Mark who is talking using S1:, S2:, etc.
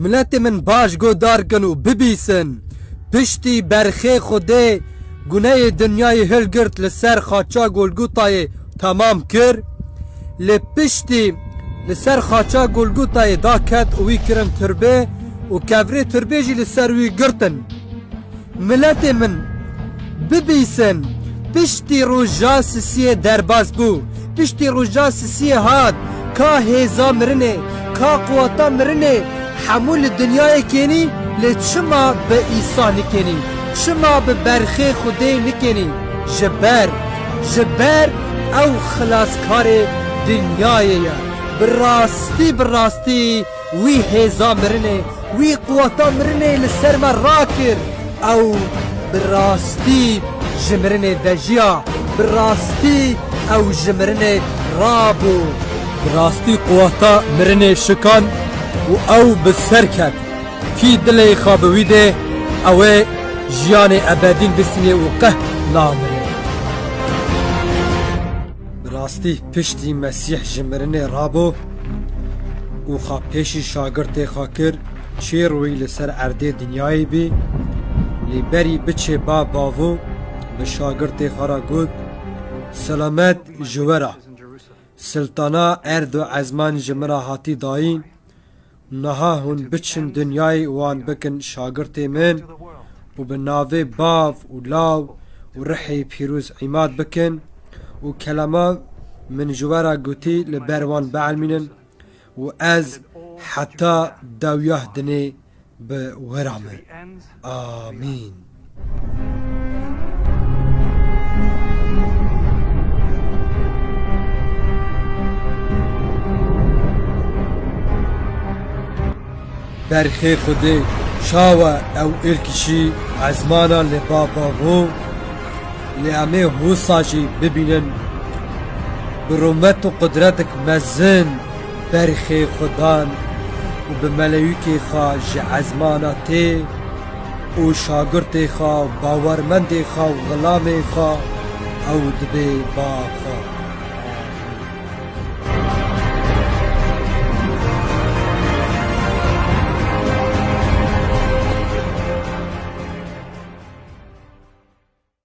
S1: Miletê min baş godar kin û bibîsin. Piştî berxê Xwedê guneyê dinyayê hilgirt li ser xaça Golgotayê temam kir. Lê piştî li ser xaça Golgotayê da ket û wî kirin tirbê û kevirê tirbê jî li ser wî girtin. Miletê min, bibîsin, piştî roja sisiyê derbas bû, piştî roja sisiyê hat, ka hêza mirinê, ka quweta mirinê, hemû li dinyayê kênî, lê çima bi Îsa nikênî, çima bi berxê Xwedê nikênî? Ji ber, ji ber ew Xilaskarê dinyayê ye. Bi rastî, bi rastî. Wî hêza mirinê, wî quweta mirinê li ser me rakir. Ew bi rastî ji mirinê vejiya, bi rastî ew ji mirinê rabû. Bi rastî quweta mirinê şikan û ew bi ser ket. Kî dilê xwe bi wî dê, ew ê jiyanê ebedîn bisînê û qeh namire. Bi rastî piştî Mesîh ji mirinê rabû û xwe pêşî şagirtê xwe kir, çê rûyî li ser erdê dinyayê bî, lê berî biçê ba bavû bi şagirtê xwe re got, Selamet ji we re! Siltana erd û ezman ji min re hatî dayîn. Niha hûn biçin dinyayê wan bikin şagirtê min û bi navê bav û law û rihê pîroz îmad bikin û kelama min ji we re gotî li ber wan bielmînin û ez heta dewyah dinê bi we re me. Amîn. Berxê Xwedê çawa ew êrkişî ezmana li baba vo lê em ê wisa jî bibînin bi rûmet û qudretek mezin berxê xwe dan û bi melewîkê xwe ji ezmana tê û şagirtê xwe, bawermendê xwe û xilamê xwe ew dibê ba xwe.